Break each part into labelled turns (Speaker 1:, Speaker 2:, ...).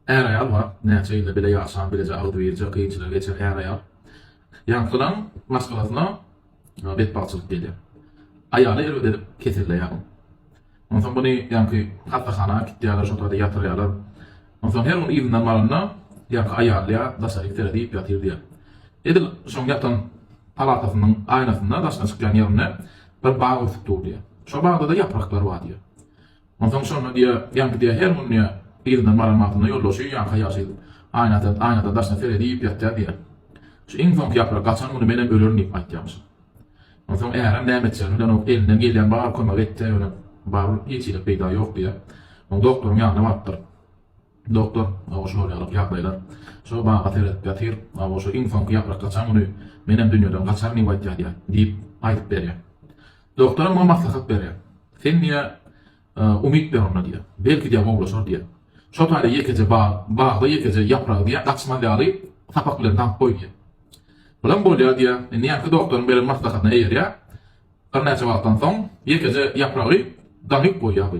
Speaker 1: Är-aýal bar. Näçe ýyl-da bile ýaşan, bileje agzybirje kynçylygy geçen är-aýal ýaňkylaň maşgalasyna betbagtçylyk gelýär. Aýaly erbet edip keselleýär. Onsoň muny ýaňky hassahana äkitýärler, şol taýda ýatyrýarlar. Onsoň her gün yzyndan baranda, ýaňky aýal diýýär, Daşaryk seret iýip ýatyr diýýär. Edil şoň ýatan palatasynyň aýnasynda daşyna çykýan ýerinde bir bag ösüp dur diýýär. Şo bagda-da ýapraklar bar diýýär. Onsoň şonda diýýä, ýaňky diýýä her gün diýýä, yzyna Mara magtyna ýoldaşy ýaňka ýaşy edip, aýnadan, aýnadan daşyna seredip iýip ýatýar diýýä. Şu iň soňky ýaprak gaçan güni menem ölerin diýip aýtýamyş. Onsoň ärem näme etjegini bilenok, elinden gelýän bar kömegi etdi, ýöne barybir hiç hili peýda ýok diýýä. Soň doktoryň ýanyna barypdyr. Doktor, Awa şu bolýalyk ýagdaýlar. Şo baga seredip ýatyr. Awa şu iň soňky ýaprak gaçan güni menem dünýeden gaçaryn diýip aýtýadýa, diýip, aýdyp berýär. Doktoram muňa maslahat berýär. Sen diýýär, umyt ber onda diýýär. Belki diýýär gowulaşar diýýär. Şo taýda ýekeje bag, bagda ýekeje ýapragy diýýär, gaçmaz ýaly sapak bilen daňyp goý diýýär. Bulam bolýar diýýär. Indi ýaňky doktoryň beren maslahatyna eýerýär. Birnäçe wagtdan soň ýekeje ýapragy daňyp goýýar bu.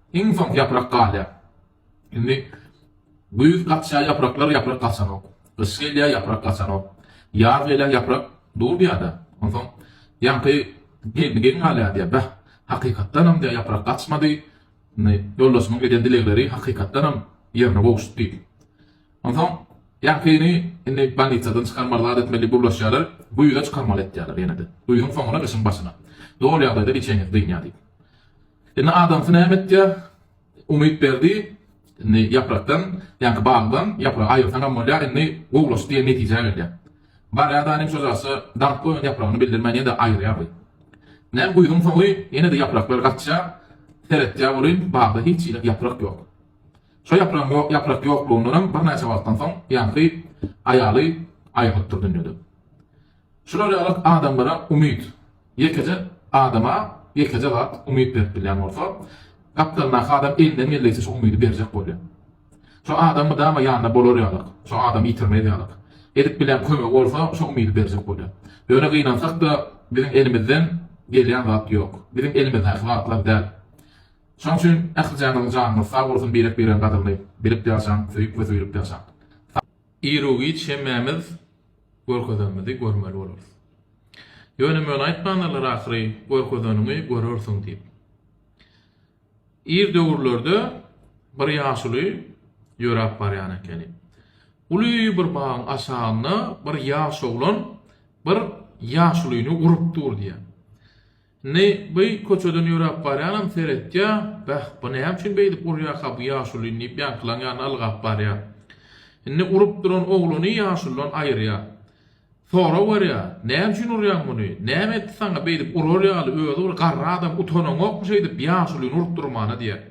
Speaker 1: Iň soň ýaprak galýar. Indi güýz gaçýar ýapraklar, ýaprak gaçanok. Gyş gelýär, ýaprak gaçanok. Ýaz gelýär, ýaprak dur bir ýerde. Onsoň ýaňky gelni gelin galýar diýýär. Bäh, hakykatdanam diýýär, ýaprak gaçmady. Indi ýoldaşymyň eden dilegleri hakykatdanam ýerine gowuşdy diýip. Onsoň ýaňkyny indi bolnitsadan çykarmaly zat etmeli diýip ugruşýarlar. Güýze çykarmaly etýärler ýene-de. Güýzüň soňuna, gyşyň başyna. Doly ýagdaýda biçenesi dynýar diýip. Indi adamsy näme etýär? Umytberdi, Indi ýaprakdan, ýaňky bagdan ýapragy aýyrsaňam bolýar, indi gowulaşdy diýen netijä gelýär. Barýar-da aniň şojasy daňyp goýan ýapragyny bildirmän ýene-de aýyrýar weý. Näm güýzüň soňy ýene-de ýapraklar gaçýar, seretýär welin, bagda hiç hili ýaprak ýok. Şo ýapragyň ýok, ýaprak ýoklugyndanam birnäçe wagtdan soň ýaňky aýaly aýrylypdyr dünýeden. Şular ýaly adamlara umyt. Ýekeje adama ýekeje zat umyt berip bilýän bolsa, gapdalyndaky adam elinden geldigiçe şo umydy berjek bolýar. Şo adam mydama ýanynda bolar ýalyk, şo adam ýitirmez ýalyk, edip bilýän kömegi bolsa şo umydy berjek bolýar. Ýöne gynansak-da, biziň elimizden gelýän zat ýok. Biziň elimizdäki zatlar däl. Şoň üçin ählijaňyzyň janyňyz sag bolsun birek-biregiň gadyryny bilip ýaşaň, söýüp we söýülip ýaşaň. Iru-giç hemmämiz görkezenimizi görmeli bolarys. Ýöne möne aýtmandylar ahyry, görkezeniňi görersiň diýip. Ir döwürlerde bir ýaşuly ýöräp barýan ekeni. Uly bir bagyň aşagynda bir ýaş oglan bir ýaşulyny urup dur diýýär. Indi bu köçeden ýöräp barýanam seretýär, Bäh, bu näme üçin beýdip urýarka bu ýaşulyn diýip ýaňkylaň ýanyna ylgap barýar. Indi urup duran ogluny ýaşuldan aýyrýar. Sorag berýär, Näme üçin urýaň muny? Näme etdi saňa beýdip urar ýaly özi bir garry adam utanaňokmy şeýdip ýaşulyny urup durmana diýýär.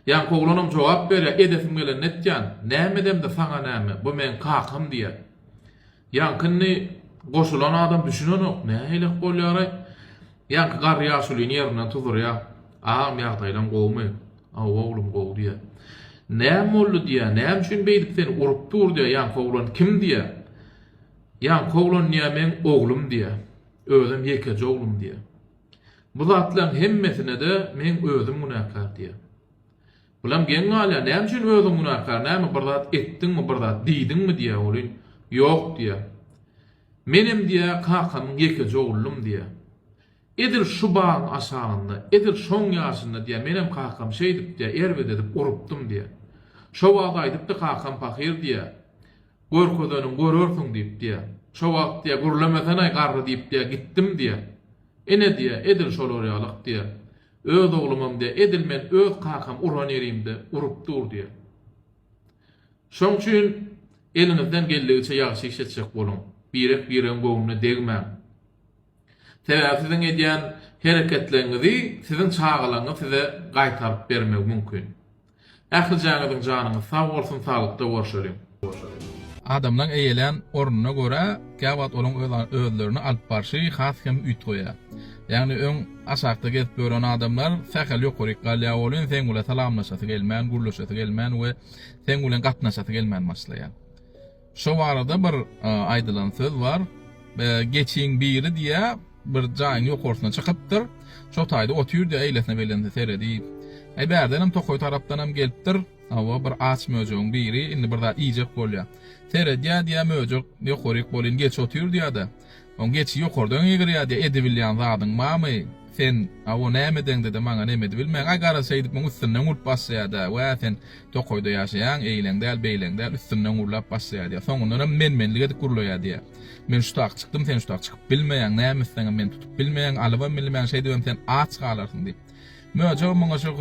Speaker 1: Ýaňky oglanam jogap berýär, Edesim gelenini etýän. Näme edemde saňa näme, bu meň kakam diýýär. Ýaňky indi goşulan adam düşünenok, nähilek bolýaraý? Ýaňky garry ýaşulyny ýerinden tuzurýa, Agam ýagdaýlaň gowumy? Hawa oglum gowy diýýä. Näme boldy diýýä, näme üçin beýdip seni urup dur diýýä, ýaňky oglan kim diýýä. Ýaňky oglan diýýä meň oglum diýýä. Özem ýekeje oglum diýýä. Bu zatlaryň hemmesine-de meň özüm günäkär diýýä. Bulam geň galýar, näme üçin özüň günäkär, näme bir zat etdiňmi, bir zat diýdiňmi diýýär welin, ýok diýýär. Menem diýýär, kakamyň ýekeje oglum diýýär. Edil şu bagyň aşagynda, edil şoň ýaşynda diýýär, menem kakam şeýdip diýýär, erbet edip urupdym diýýär. Şo wagt aýdypdy kakam pahyr diýýär, görkezeniň görersiň diýip diýýär. Şo wagt diýýär, gürlemesenaý garry diýip diýýär, gitdim diýýär. Ine diýýär, edil şolar ýalyk diýýär. Öz oglumam diýýär. Edil men öz kakam uran ýerimde urup dur diýýär. Şoň üçin eliňizden geldigiçe ýagşy iş etjek boluň. Birek-biregiň göwnüne degmäň. Sebäbi siziň edýän hereketleriňizi siziň çagalaryňyz size gaýtaryp bermegi mümkin. Ählijäňiziň janyňyz sag bolsun saglykda gorşeliň.
Speaker 2: Adamlaň eýelän ornuna görä käwagt olaň özlerini alyp barşy has hem üýtgeýä. Ýagny öň aşakda gezip ýören adamlar sähel ýokaryk galýa welin seň bilen salamlaşasy gelmän, gürleşesi gelmän we seň bilen gatnaşasy gelmän başlaýa. Şo barada bir aýdylan söz bar, Geçiň biri diýä, bir jaýyň ýokarsyna çykypdyr. Şo taýda otyrdy, eýlesine beýlesine serediýip. Äý bärdenem tokaý tarapdanam gelipdir. Hawa, bir aç möjegiň biri indi bir zat iýjek bolýa. Seredýä diýä, möjek ýokaryk bolýyn geçip otyr diýä-de. Oň geçi ýokardan ýygyrýardy, Edibilýän zadyň barmy? Sen, awo, näme edeňde-de maňa nem edibilmäň? Aý, gara şeýdip muň üstünden urup başlaýarda. Wä, sen tokaýda ýaşaýaň, eýleň däl, beýleň däl, üstünden urlap başlaýar, diýýär. Soňundan hem men-menlik edip gurlaýar, diýýär. Men şutak çykdym, sen şutak çykyp bilmeýäň, näme etseňem meni tutup bilmeýäň, alybam bilmeýäň, şeýdibem sen aç galarsyň, diýip. Möjek muňa şo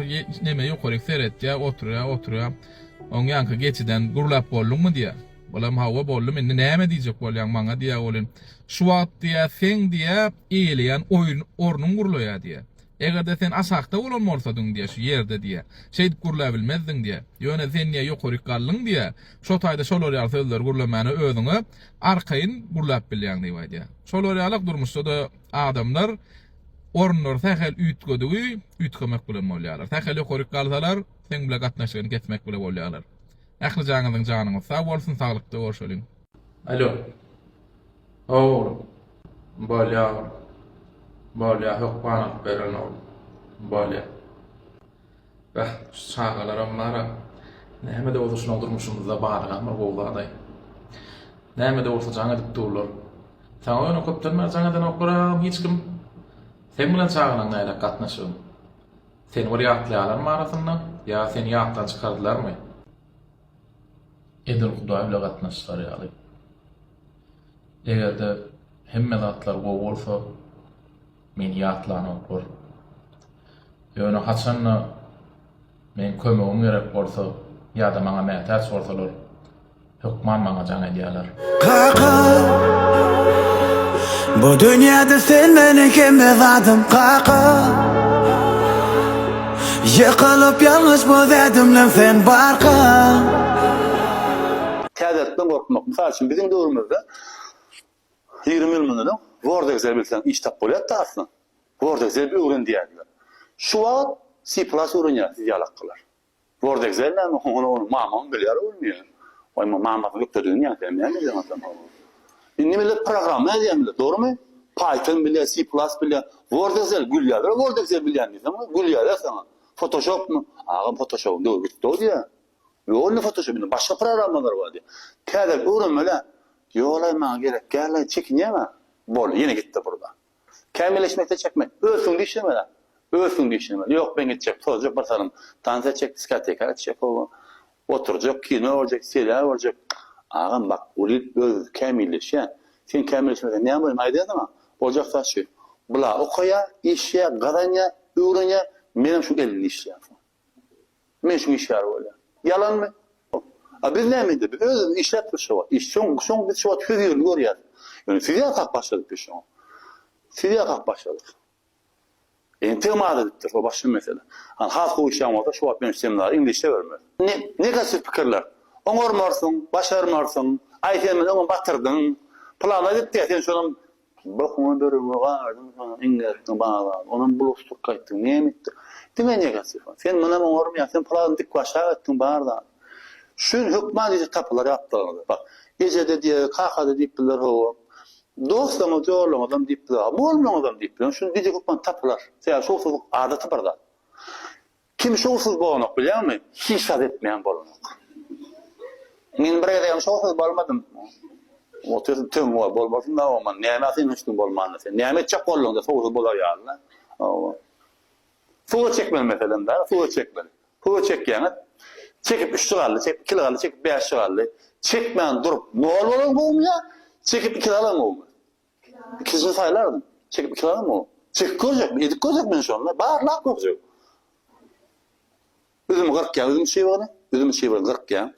Speaker 2: nemä ýokaryk seretýär, oturýar, oturýar. Oň ýaňky geçiden gurlap bolduňmy? diýýär. Olam hawa boldum indi näme diýjek bolýaň maňa diýýä welin şu wagt diýýä seň diýýä eýeleýän oýun ornuň gurlaýa diýýä. Egerde sen aşakda bolan bolsadyň diýýä şu ýerde diýýä şeýdip gurlabilmezdiň diýýä. Ýöne sen diýýä ýokaryk galdyň diýýä. Şo taýda şolar ýaly sözleri gurlamäne özüňe arkaýyn gurlap bilýäň diýip aýdýa. Şolar ýalak durmuşda-da adamlar orunlary sähel üýtgedigi üýtgemek bilen bolýalar. Sähel ýokaryk galsalar seň bile gatnaşygyny kesmek bile bolýalar. Ähli jaňyzyň janyňyz sag bolsun saglykda görşeliň. Alo.
Speaker 1: Oglum. Bolýa oglum. Bolýa hökman alyp beren oglum. Bolýa. Bäh şu çagalaram bara. Näme de bolsa şular durmuşymyzda barlygam bir gowy zadaý. Näme de bolsa jaň edip durlar. Saňa ýöne köpden bäri jaň edenoklar agam hiç kim. Seň bilen çagalaň nädek gatnaşygyň. Seni bir ýatlaýalarmy arasynda, ýa seni ýatdan çykardylarmy? Edil Hudaý bile gatnaş çykar ýaly. Eger-de hemme zatlar gowy bolsa, meni ýatlanoklar. Ýöne haçan-da meň kömegim gerek bolsa ýa-da maňa mätäç bolsalar, Hökman maňa jaň edýärler. Kaka
Speaker 3: Bu dünýäde sen meniň hemme zadym kaka Ýykylyp ýalňyş bu dädimden sen barka
Speaker 4: Täzelikden gorkmak. Mysal üçin biziň döwrümizde ýigrimi ýyl mundan öň Word Excel bilseň iş tap bolýardy aslynda. Word Excel öwren diýýärdiler. Şu wagt C plus öwrenýär siz ýalakkalar. Gördegzel näme, ony onuň mamaň bilýär ol diýýär. Waý, muň mamasyny gökdedigini ýazýar, näme edýäň atam ow. Indi millet programma ýazýar millet, dogrumy? Python bilýär, C plus bilýär. Gördegzel gülýärler, gördegzel bilýän diýseň ow, gülýärler saňa. Fotoshopmy? Agam fotoshopyň döwri gitdi ow diýýär. Ýok indi fotoshop, indi başga programmalar bar diýýär. Täzelik öwrenmeli-ä. Ýola maňa gerekgälaý, çekinýäň-ä. Boldy, ýene gitdi purda. Kämilleşmekde çekmek, örsüň diýiş näme zat? Örsüň diýiş näme? Ýok, ben gitjek, tozjak bir salym tans etjek, diskoteka gitjek, howa, oturjak, kino görjek, serial görjek. Agam, bak, uly öz kämilleşýä. Sen kämilleşmeseň näme bolýa, men aýdaýa saňa, oljak zat şu, bula okaýa, işýä, gazanýa, öwrenýä, menem şu elli işleýän soň. Men şu işgär bolýan. Ýalanmy? A biz näme edeli? Özümiz işläpdir şu wagt. Iş şoň, şoň biz şu wagt söz ýerini görýäs. Ýöne siz ýasap başladyk biz şoňa. Siz ýasap başladyk. Entegem az edipdir, o başga mesele. Hany has gowy işlän bolsa şu wagt men seminary indi işlebermez. Ne, negativ pikirler. Oňarmarsyň, başarmarsyň, aý sen meni öňem batyrdyň. Plana gitdi, sen şonam Bokuňa börüge gardym saňa iňňersini baglap, onam bulaşdyk gaýtdyk, näme etdik? Diňe negatiw. Sen munam oňarmaýaň, sen pyragny dikbaşak etdiň bar zady. Şuň hökman eje tapylar ýaplygyňyza. Bak, eje-de diýer, kaka-da diýip bildiler hawa. Dostlaryňyz, ýollaryňyzam diýip biler, bolmaňyzam diýip biler. Şuny eje hökman tapylar. Sebäbi şowsuzlyk adaty bir zat. Kim şowsuz bolanok bilýäňmi? Hiç zat etmeýän bolanok. Men bir gezegem şowsuz bolmadym. Otyr töň bol, bolmasynda oman. Näme sen hiç kim bolmanda sen? Näme etjek bolduňda şowsuz bolar ýalyna? Hawa. Surat çekmeli meselem bar, surat çekmeli. Surat çekýäňiz. Çekip 3 galdy, çekip 2 galdy, çekip 5 galdy. Çekmän durup nol bolan gowumya, çekip 2 alan gowumy? Ikisini saýlaryn. Çekip iki sany mu? Çekip görjekmi? Edip görjekmi indi şony? Barlap görjek. Üzümi gyrkýan, üzüm çybygyny, üzüm çybygyny gyrkýan.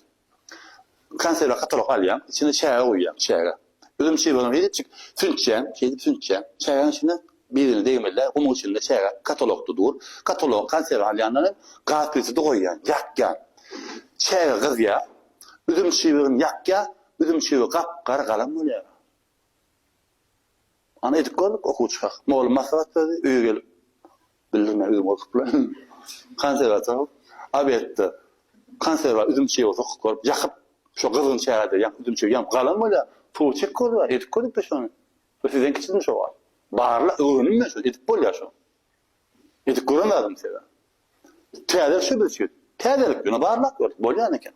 Speaker 4: Konserwa katalog alýan, içine çäge guýýan, çäge. Üzüm çybygyny şeýdipjik süntýän, şeýdip süntýän. Çägäniň içine birini degmeli, gumuň içinde çäge katalogda dur. Katalogy konserwa alýandan soň gaz plitede goýýan, ýakýan. Çäge gyzýar. Üzüm çybygyny ýakýar, üzüm çybygy gap-gara galam bolýar. Ana edip gördük okuwçy hak. Mugallym maslahat berdi, öýe gelip bildirme özüm gorkupla. Konserwata obedde konserwa üzüm çygy sokup görüp ýakyp şo gyzgyn çägede ýaňky üzüm çygy ýanyp galan bolýa. Suwy çek görüber edip gördük biz şony. Bu sizden kiçidim şo wagt. Barla öwrendim men şony edip bolýa şony. Edip göremedim sebäbi. Täze şübüçi. Täzelik ýöne barlap gördük bolýan eken.